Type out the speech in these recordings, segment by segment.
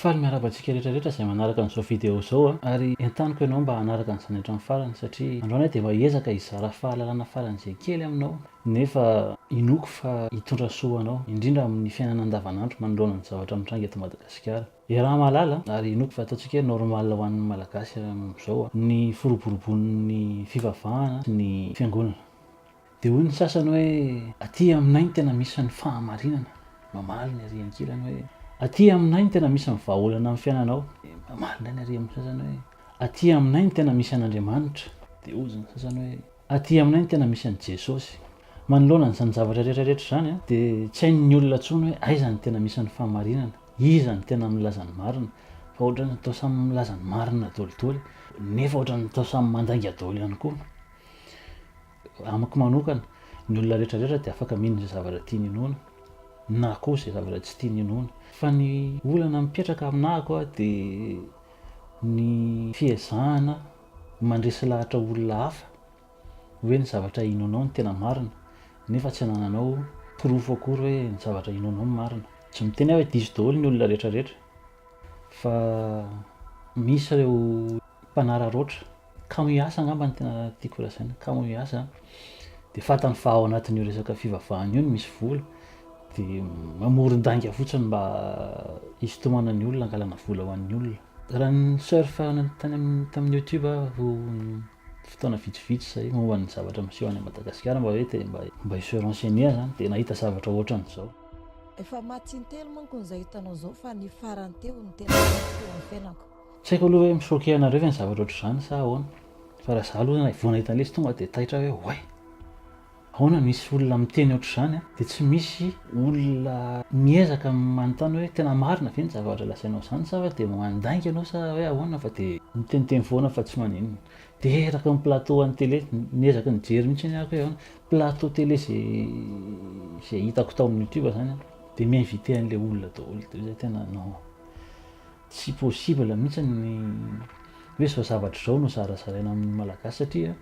Faly miarahaba antsika rehetra rehetra izay manaraka an'izao video izao a! Ary entaniko ianao mba hanaraka an'izany hatramin'ny farany satria androany aho dia efa hiezaka hizara fahalalana faran'izay kely aminao nefa inoako fa hitondra soa ho anao, indrindra amin'ny fiainana andavanandro manoloana ny zavatra mitranga eto Madagasikara. Iaraha mahalala ary inoako fa ataontsika hoe normal ho an'ny Malagasy amin'izao ny firoborobon'ny fivavahana sy ny fiangonana. Dia hoy ny sasany hoe aty aminay no tena misy ny fahamarinana, mamaly ny ery ankilany hoe aty aminay no tena misy ny vahaolana amin'ny fiainanao, dia mamaly indray ny ery amin'ny sasany hoe aty aminay no tena misy an'Andriamanitra, dia hoy ny sasany hoe. Aty aminay ny tena misy an'i Jesosy. Manoloana an'izany zavatra rehetra rehetra izany dia tsy hain'ny olona intsony hoe aiza no tena misy an'ny fahamarinana, iza no tena milaza ny marina, fa ohatran'ny atao samy milaza ny marina daholo daholo, nefa ohatran'ny atao samy mandainga daholo ihany koa. Amiko manokana, ny olona rehetra rehetra dia afaka mino izay zavatra tiany inoana, na koa izay zavatra tsy tiany inoana. Fa ny olana mipetraka aminako dia ny fiezahana, Mandresy lahatra olona hafa hoe ny zavatra inoanao no tena marina nefa tsy anananao porofo akory hoe ny zavatra inoanao no marina. Tsy miteny aho hoe diso daholo ny olona rehetrarehetra fa misy ireo mpanararaotra, kamo hiasa angamba no tena tiako lazaina, kamo hiasa dia fantany fa ao anatin'io resaka fivavahana io no misy vola dia mamoron-dainga fotsiny mba hisintomana ny olona hangalana vola ho an'ny olona. Raha ni-surf tamin'ny youtube aho fotoana vitsivitsy izay momba ny zavatra miseho any Madagasikara mba hoe te mba hi-se renseigner izany dia nahita zavatra ohatran'izao. Efa maty intelo manko izay hitanao izao fa ny farany teo no tena mety teo amin'ny fiainako. Tsy haiko aloha hoe mi-choquer anareo ve ny zavatra ohatr'izany sa ahoana fa raha izaho aloha vao nahita an'ilay izy tonga dia taitra aho hoe oay! Ahoana no hisy olona miteny ohatr'izany dia tsy misy olona miezaka manontany hoe tena marina ve ny zavatra lazainao izany sa hoe dia mandainga ianao sa hoe ahoana fa dia miteniteny foana fa tsy maninona. Dia eraky ny plateau an'ny tele, niezaka nijery mihitsy anie aho hoe ahoana, plateau tele izay izay hitako tao amin'ny youtube izany an, dia mi-inviter an'ilay olona daholo dia hoe tena non, tsy possible mihitsy ny hoe izao zavatra izao no zarazaraina amin'ny malagasy satria.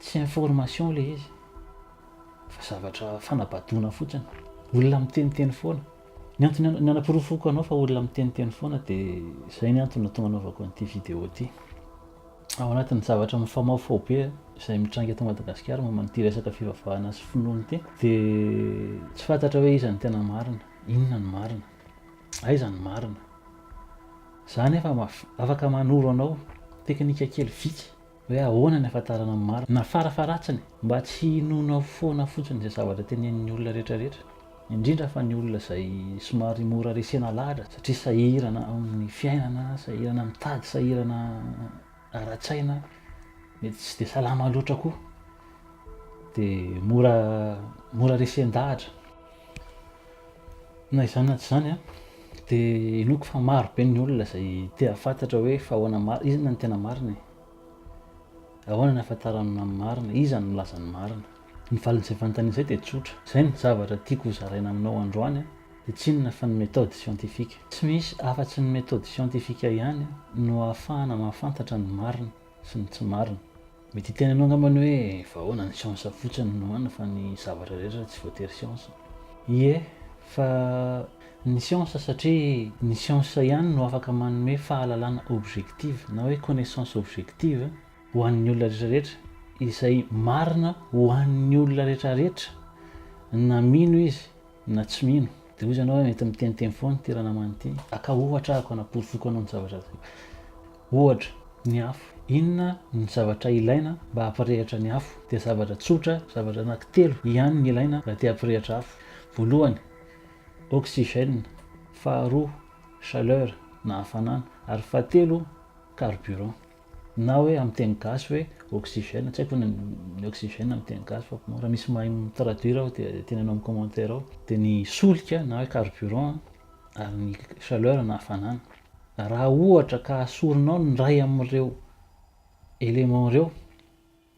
Tsy information ilay izy fa zavatra fanabadoana fotsiny. Olona miteniteny foana. Ny antony nanaporofoako anao fa olona miteniteny foana dia izay ny antony nahatonga anaovako an'ity vidéo ity. Ao anatin'ny zavatra mifamaofao be izay mitranga eto Madagasikara momba an'ity resaka fivavahana sy finoana ity dia tsy fantatra hoe iza no tena marina, inona no marina, aiza no marina. Za anefa afaka manoro anao teknika kely vitsy. Hoe ahoana ny hahafantarana ny marina? Na farafaharatsiny, mba tsy hinoanao foana fotsiny izay zavatra tenenin'ny olona rehetrarehetra, indrindra fa ny olona izay somary mora resena lahatra satria sahirana amin'ny fiainana, sahirana mitady, sahirana ara-tsaina, mety tsy dia salama loatra koa, dia mora mora resen-dahatra. Na izany na tsy izany dia inoako fa maro be ny olona izay te hahafantatra hoe fa ahoana ma- iza no tena marina e? Ahoana ny ahafantaran'ny mamy marina? Iza no milaza ny marina? Ny valin'izay fanontaniana izay dia tsotra. Izay ny zavatra tiako hozaraina aminao androany dia tsy inona fa ny methode scientifique. Tsy misy afa-tsy ny methode scientifique ihany no ahafahana mahafantatra ny marina sy ny tsy marina. Mety hiteny anao angamba ny hoe vahoana ny siansa fotsiny no an fa ny zavatra rehetra tsy voatery siansa. Ie, fa ny siansa satria ny siansa ihany no afaka manome fahalalana objective na hoe connaissance objective ho an'ny olona rehetrarehetra izay marina ho an'ny olona rehetrarehetra na mino izy na tsy mino. Dia hoy izy ianao hoe mety miteniteny foana ity ranamana ity, aka ohatra ahako hanaporofoko anao ny zavatra zay. Ohatra, ny afo. Inona no zavatra ilaina mba hampirehitra ny afo? Dia zavatra tsotra, zavatra anankitelo, ihany no ilaina raha te hampirehitra afo. Voalohany, oxygène, faharoa, chaleur, na hafanana, ary fahatelo, carburant. Na hoe amin'ny teny gasy hoe oxygène, tsy haiko ve ny oxygène amin'ny teny gasy fa raha misy mahay mi-traduire aho dia teneno amin'ny commentaire ao. Dia ny solika na hoe carburant ary ny chaleur na hafanana. Raha ohatra ka asorinao ny iray amin'ireo éléments ireo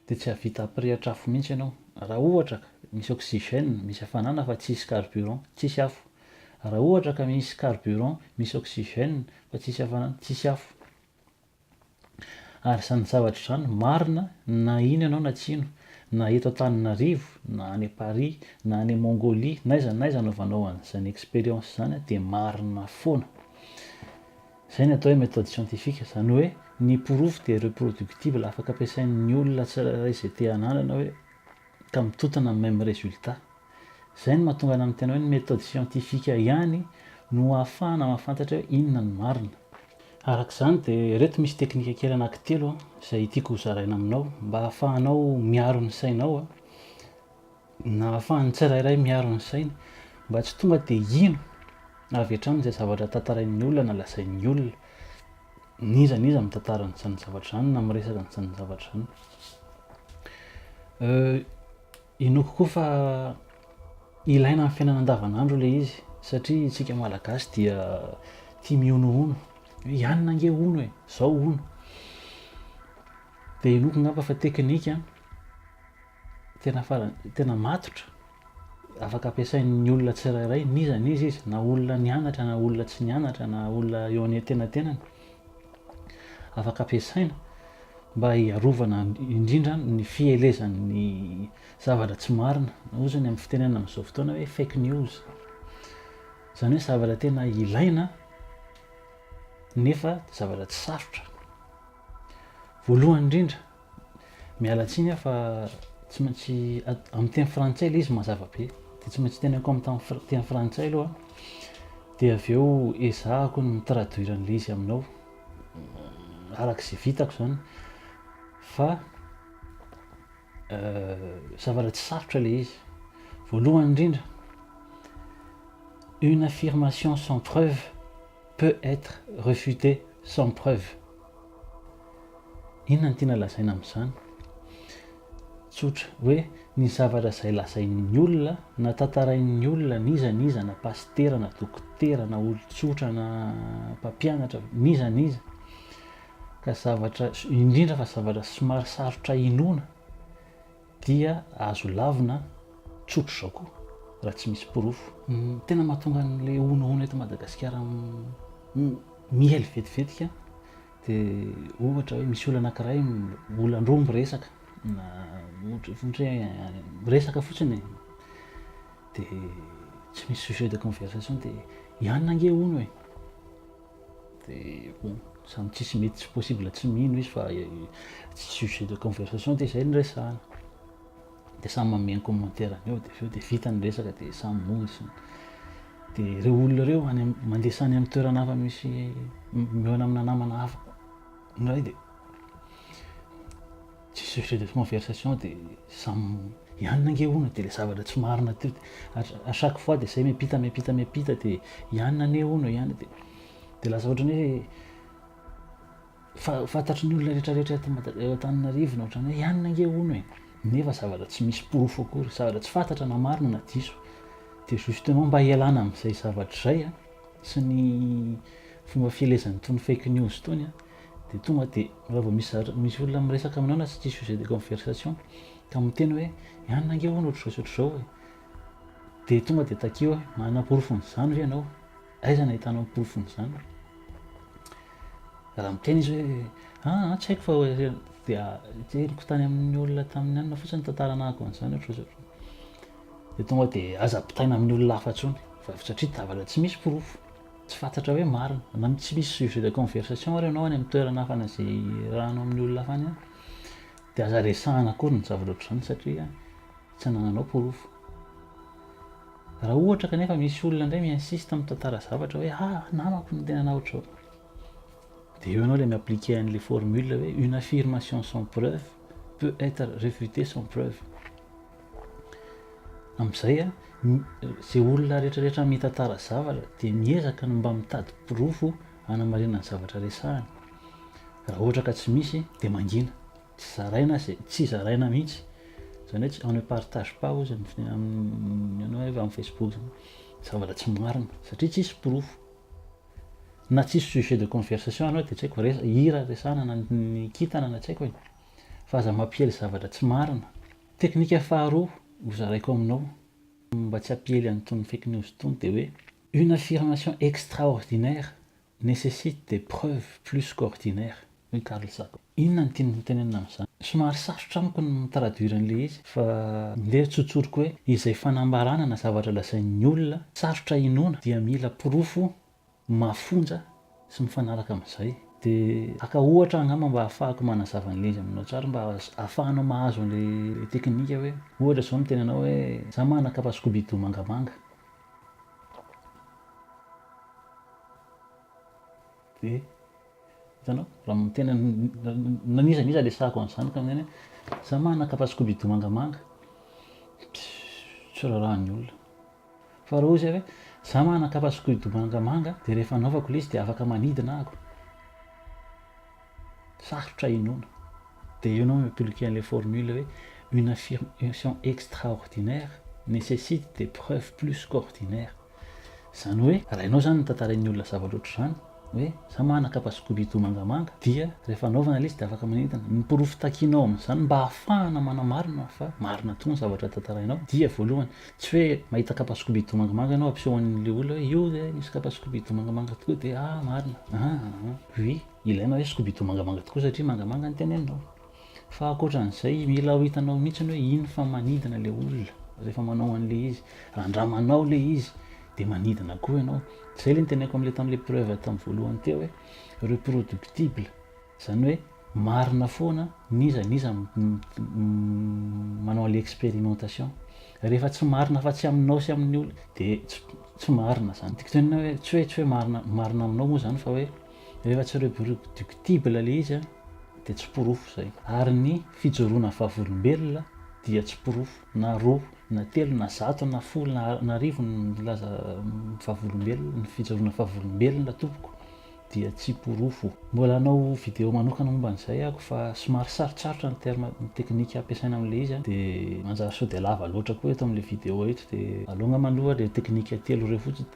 dia tsy hahavita hampirehitra afo mihitsy ianao. Raha ohatra ka misy oxygène, misy hafanana fa tsy hisy carburant, tsy hisy afo. Raha ohatra ka misy carburant, misy oxygène fa tsy hisy hafanana, tsy hisy afo. Ary izany zavatra izany marina na iny ianao na tsy ino, na eto Antananarivo, na any Paris, na any Mongolie, n'aiza n'aiza anaovanao an'izany expérience izany dia marina foana. Izay no atao hoe méthode scientifique, izany hoe ny porofo dia reproductible, afaka ampiasain'ny olona tsirairay izay te hanandrana hoe ka mitotana amin'ny même résultat. Izay no mahatonga anà ny tena hoe ny méthode scientifique ihany no ahafahana mahafantatra hoe inona no marina. Araka izany dia ireto misy teknika kely anankitelo izay tiako ho zaraina aminao mba hahafahanao miaro ny sainao na hahafahan'ny tsirairay miaro ny sainy mba tsy tonga dia hino avy hatrany izay zavatra tantarain'ny olona na lazain'ny olona n'iza n'iza mitantara an'izany zavatra izany na miresaka an'izany zavatra izany. Inoako koa fa ilaina amin'ny fiainana andavanandro ilay izy satria isika Malagasy dia tia mihonohono hoe i anona ange hono e, zao hono. Dia inoako angamba fa teknika tena farany tena matotra afaka ampiasain'ny olona tsirairay n'iza n'iza izy na olona nianatra na olona tsy nianatra na olona eo an'entenatenany. afaka ampiasaina mba hiarovana indrindra ny fielezan'ny zavatra tsy marina na ozy ny amin'ny fitenena amin'izao fotoana hoe fake news izany hoe zavatra tena ilaina nefa zavatra tsy sarotra voalohany indrindra Miala tsiny aho fa tsy maintsy amin'ny teny frantsay ilay izy mazava be dia tsy maintsy teneniko amin'ny teny frantsay aloha dia avy eo ezahako ny mi-traduire an'ilay izy aminao araka izay vitako izany fa euh, zavatra tsy sarotra ilay izy voalohany indrindra une affirmation sans preuve peut être refutée sans preuve Inona no tiana lazaina amin'izany? Tsotra, hoe ny zavatra izay lazain'ny olona na tantarain'ny olona n'iza n'iza na pasitera na dokotera na olon-tsotra na mpampianatra n'iza n'iza ka zavatra indrindra fa zavatra somary sarotra inoana Dia azo lavina tsotra izao koa raha tsy misy porofo. Ny tena mahatonga an'ilay honahona eto Madagasikara miely vetivetika dia ohatra hoe misy olona anankiray olan-droa miresaka na ohatra hoe miresaka fotsiny e, dia tsy misy sujet de conversation dia i anona ange hono e. dia bon zany tsisy mety tsy possible tsy mino izy fa tsy sujet de conversation dia zay niresahana dia samy manome ny commentaire-ny eo dia avy eo dia vita ny resaka dia samy monja dia ireo olona ireo any am- mandesa any amin'ny toerana hafa misy mihaona amina namana hafa indray dia Tsy sujet de conversation de samy hianina ange hono de le zavatra tsy marina teo de à chaque fois de zay miampita miampita miampita de hianina anie hono hianina de de lasa ohatran'ny hoe fa- fantatry ny olona rehetra rehetra eto Mada- eo Antananarivo ny ohatran'ny hoe hianina ange hono e nefa zavatra tsy misy porofo akory zavatra tsy fantatra na marina na diso de justement mba hialana am'zay zavatra zay a sy ny fomba fielezan'itony fake news itony a Dia tonga dia raha vao misy zatra, misy olona miresaka aminao na tsy tia sujet de conversation ka miteny hoe ianona ange hono ohatr'izao sy ohatr'izao e! dia tonga dia takio hoe manana porofon'izany ve ianao? aiza no ahitanao ny porofon'izany? raha miteny izy hoe aa tsy haiko fa dia henoko tany amin'ny olona tamin'ny anona fotsiny tantara anahako an'izany ohatr'izao sy ohatr'izao dia tonga dia aza ampitaina amin'ny olona hafa intsony fa satria tsy misy porofo. Tsy fantatra hoe marina na tsy misy sujet de conversation ary ianao any amin'ny toerana hafa na izay irahanao amin'ny olona hafa any dia aza resahana akory ny zavatra ohatr'izany satria tsy anananao porofo. Raha ohatra kanefa misy olona indray mi-insiste mitantara zavatra hoe ah namako no tena nanao ohatr'izao. Dia eo ianao ilay mi-appliquer an'ilay formule hoe une affirmation sans preuve peut être refutée sans preuve. Amin'izay a, izay olona rehetrarehetra mitantara zavatra dia miezaka ny mba mitady porofo hanamarinana ny zavatra resahany. Raha ohatra ka tsy misy dia mangina, tsy zaraina izay, tsy zaraina mihitsy. Izany hoe on ne partage pas hozy amin'ny amin'ny ianao hoe amin'ny Facebook izany zavatra tsy marina satria tsisy porofo. na tsisy sujet de conversation anao dia tsy haiko resa hira resahana na ny kintana na tsy haiko e. Fa aza mampiely zavatra tsy marina. Teknika faharoa ho zaraiko aminao mba tsy hampiely an'itony fake news itony dia hoe une affirmation extraordinaire necessite des preuves plus qu'ordinaires hoy Carl Sagan. Inona no tiany hotenenina amin'izany? Somary sarotra amiko ny mi-traduire an'ilay izy fa ndeha tsotsoriko hoe izay fanambarana na zavatra lazain'ny olona sarotra inoana dia mila porofo mafonja sy mifanaraka amin'izay. Dia haka ohatra angamba mba hahafahako manazava an'ilay izy aminao tsara mba ahafahanao mahazo an'ilay teknika hoe ohatra izao miteny anao hoe za manana kapa scooby-doo mangamanga. Dia hitanao, raha tena n'iza n'iza resahako an'izany ka maneno hoe za manana kapa skobido mangamanga, tsy raharahan'ny olona. Fa raha ohatra hoe za manana kapa skobido mangamanga dia rehefa anaovako ilay izy dia afaka manidina ahako, sarotra inoana. Dia eo ianao mi-appliquer an'ilay formule hoe une affirmation extraordinaire necessite des preuves plus qu'ordinaires. Izany hoe raha ianao izany no tantarain'ny olona zavatra ohatr'izany, hoe izaho manana kapa scooby-doo mangamanga, dia rehefa anaovana ilay izy dia afaka manentana. Ny porofo takianao amin'izany mba hahafahana manamarina fa marina tokoa ny zavatra tantarainao dia, voalohany, tsy hoe mahita kapa scooby-doo mangamanga ianao hampiseho an'ilay olona hoe io ve misy kapa scooby-doo mangamanga tokoa dia, ah, marina, ah, ah, ah, oui, ilaina hoe scooby-doo mangamanga tokoa satria mangamanga ny teneninao. Fa akoatran'izay mila ho hitanao mihitsiny hoe iny fa manidina le olona rehefa manao an'le izy. Raha andramanao le izy de manidina koa ianao. Zay le nitenenako am'le tam'le preuve tam voalohany teo hoe reproductible, zany hoe marina foana n'iza n'iza manao an'le expérimentation. Rehefa tsy marina afa tsy aminao sy amin'ny olona de tsy marina zany. Tiako tenenina hoe tsy hoe tsy hoe marina marina aminao moa zany fa hoe. Rehefa tsy reproductible ilay izy dia tsy porofo izay. Ary ny fijoroana vavolombelona dia tsy porofo. Na roa, na telo, na zato, na folo, na na arivo ny milaza vavolombelona, ny fijoroana vavolombelona tompoko dia tsy porofo. Mbola hanao video manokana momba an'izay aho fa somary sarotsarotra ny terme, ny teknika ampiasaina amin'ilay izy dia manjary sao dia lava loatra koa eto amin'ilay video eto dia aleo angamba aloha ilay teknika telo ireo fotsiny.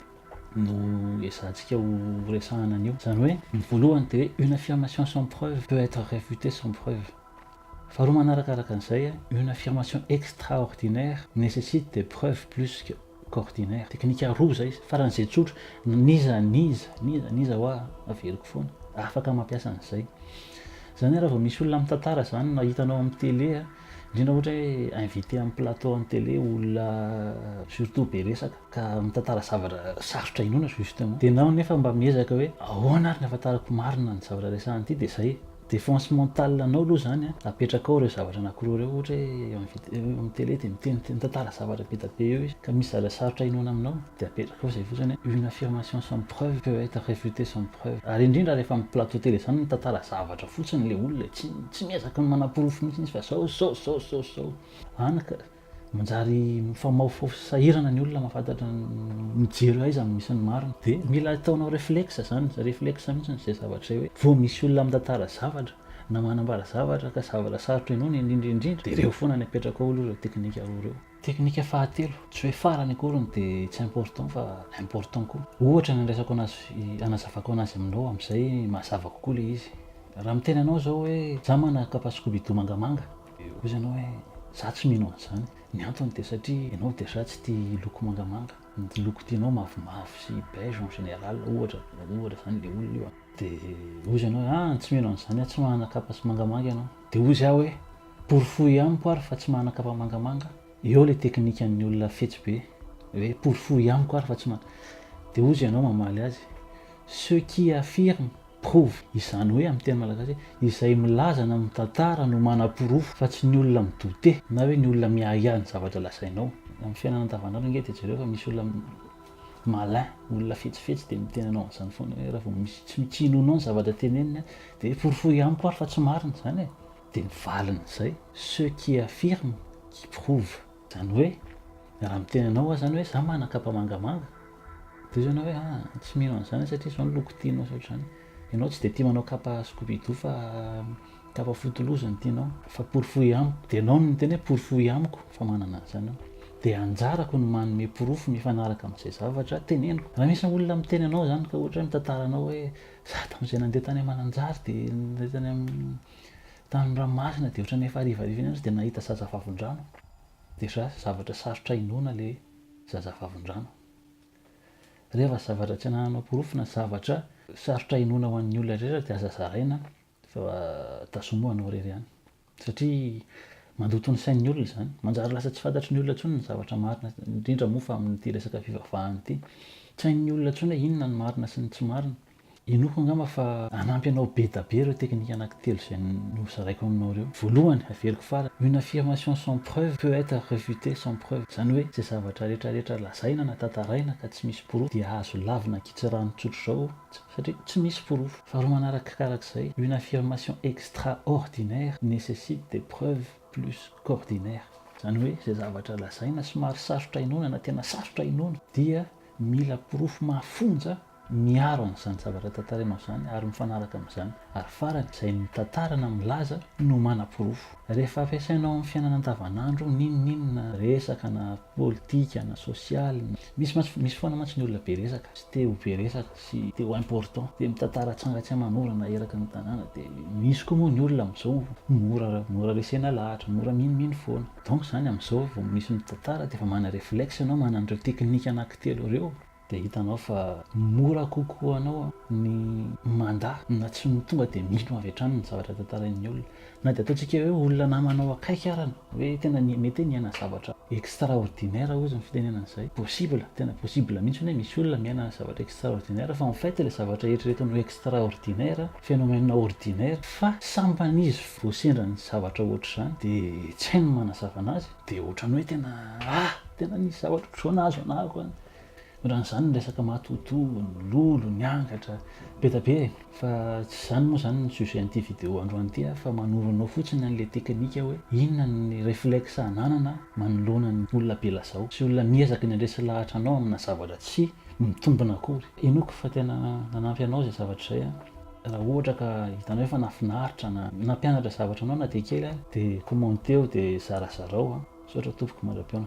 no ezahantsika ho resahana an'io. Izany hoe, ny voalohany dia hoe une affirmation sans preuve peut être réfutée sans preuve. Faharoa manarakaraka an'izay, une affirmation extraordinaire nécessite des preuves plus que qu'ordinaire. Teknika roa izay, faran'izay tsotra, n'iza n'iza, n'iza n'iza hoa, averiko foana, afaka mampiasa an'izay. Izany hoe raha vao misy olona mitantara izany na hitanao amin'ny télé, Indrindra ohatra hoe inviter amin'ny plateau an'ny télé olona surtout be resaka ka mitantara zavatra sarotra inoana justement dia enao nefa mba miezaka hoe ahoana ary ny ahafantarako marina ny zavatra resahana ity dia izay défense mentale anao aloha izany an, apetrakao ireo zavatra anakiroa ireo ohatra hoe inviter amin'ny télé dia miteny mitantara zavatra be dia be eo izy ka misy zavatra sarotra inoana aminao. Dia apetrako eo izay fotsiny hoe une affirmation sans preuve peut etre refutee sans preuve. Ary indrindra rehefa amin'ny plateau tele izany mitantara zavatra fotsiny ilay olona e, tsy tsy miezaka ny manaporofo mihitsy izy fa izao izao izao izao izao. Any ka manjary mifamaofofo sy sahirana ny olona mahafantatra ny mijery aiza no misy ny marina. Dia mila ataonao reflexe izany, reflexe mihitsy izay zavatra izay hoe vao misy olona mitantara zavatra na manambara zavatra ka zavatra sarotra henoina indrindra indrindra dia ireo foana ny apetrako ao aloha ireo teknika roa ireo. Teknika fahatelo, tsy hoe farany akory ny dia tsy important fa important koa. Ohatra ny andraisako anazy, anazavako anazy aminao amin'izay mahazava kokoa ilay izy. Raha miteny anao izao hoe za manana kapa scooby-doo mangamanga, dia hoy ianao hoe za tsy mino an'izany. Ny antony dia satria ianao déjà tsy tia loko mangamanga. Ny loko tianao mavomavo sy beige en général ohatra, ohatra izany ilay olona io. Dia hoy izy ianao hoe an! tsy mino an'izany aho, tsy manana kapa mangamanga ianao. Dia hoy izy ahy hoe. Porofoy amiko ary fa tsy mana kapa mangamanga. Eo ilay teknikan'ny olona fetsy be hoe porofoy amiko ary fa tsy mana. Dia hozy ianao mamaly azy, ce qui affirme prouve, izany hoe amin'ny teny malagasy hoe izay milaza na mitantara no manaporofo fa tsy ny olona mi douter na hoe ny olona miahiahy ny zavatra lazainao. Amin'ny fiainana andavanandro ange dia jereo fa misy olona malin, olona fetsifetsy dia miteny anao an'izany foana hoe raha vao misy tsy tsy inoanao ny zavatra teneniny dia hoe porofoy amiko ary fa tsy marina izany e. Dia ny valin'izay, ceux qui affirment, qui prouvent. Izany hoe, raha miteny anao aho izany hoe za manan-kapa mangamanga, dia hoy ianao hoe ah, tsy mino an'izany aho satria izao ny loko tianao sy ohatr'izany. Ianao tsy dia tia manao kapa scooby-doo fa kapa foty loza no tianao. Fa porofoy amiko, dia ianao no miteny hoe porofoy amiko fa manana an'izany aho. Dia anjarako ny manome porofo mifanaraka amin'izay zavatra teneniko. Raha misy olona miteny anao izany ka ohatra hoe mitantara anao hoe za tamin'izay nandeha tany Mananjary dia nandeha tany amin'ny. Tany Ranomasina dia ohatran'ny efa harivariva iny aza dia nahita zaza vavin-drano. Déjà zavatra sarotra inoana ilay zaza vavin-drano. Rehefa zavatra tsy anananao porofo na zavatra sarotra inoana ho an'ny olona rehetra dia aza zaraina fa tazomy ho anao irery ihany. Satria mandoto ny sain'ny olona izany. Manjary lasa tsy fantatry ny olona intsony ny zavatra marina, indrindra moa fa amin'ity resaka fivavahana ity. Tsy hain'ny olona intsony hoe inona ny marina sy ny tsy marina. Inoako angamba fa hanampy anao bedabe ireo teknika anankitelo izay nozaraiko aminao ireo. Voalohany, haveriko farany, une affirmation sans preuve peut être refutée sans preuve. Izany hoe, izay zavatra rehetra rehetra lazaina na tantaraina ka tsy misy porofo dia azo lavina ankitsirano tsotr'izao satria tsy misy porofo. Faharoa manarakarak'izay, une affirmation extraordinaire necessite des preuves plus qu'ordinaires. Izany hoe, izay zavatra lazaina somary sarotra inoana na tena sarotra inoana dia mila porofo mafonja miaro an'izany zavatra tantarainao izany ary mifanaraka amin'izany, ary farany, izay mitantara na milaza no manaporofo. Rehefa ampiasainao amin'ny fiainana andavanandro, n'inon'inona, resaka na politika na sosialy, misy mantsy, misy foana mantsy ny olona be resaka, sy te ho be resaka, sy te ho important, te mitantara tranga tsy aman'orana eraky ny tanàna, dia misy koa moa ny olona amin'izao mora, mora resena lahatra, mora minomino foana. Donc izany amin'izao vao misy mitantara dia efa mana-reflexe ianao, manana an'ireo teknika anankitelo ireo, Dia hitanao fa mora kokoa ho anao ny mandà na tsy ny tonga dia mino avy hatrany ny zavatra tantarain'ny olona. Na dia ataontsika hoe olona namanao akaiky ara ny hoe tena mety hoe niaina zavatra extraordinaire hozy ny fitenenana izay. Possible, tena possible mihitsy ny hoe misy olona miaina zavatra extraordinaire fa en fait ilay zavatra eritreretiny ho extraordinaire, phénomène ordinaire fa sambany izy vao sendra ny zavatra ohatr'izany dia tsy hay ny manazava anazy dia ohatran'ny hoe tena ah! tena nisy zavatra ohatr'izao nahazo anah akoany. Raha an'izany ny resaka matoatoa, ny lolo, ny angatra, be dia be e! Fa tsy izany moa izany ny sujet-n'ity vidéo androany ity fa manoro anao fotsiny an'ilay teknika hoe inona ny reflexe ananana manoloana ny olona be lazao sy olona miezaka ny handresy lahatra anao amina zavatra tsy mitombina akory. Henoiko fa tena nanampy anao izay zavatra izay an! Raha ohatra ka hitanao efa nahafinaritra na nampianatra zavatra anao na dia kely ary dia commenteo dia zarazarao an! Misaotra tompoko mandra-pihaona.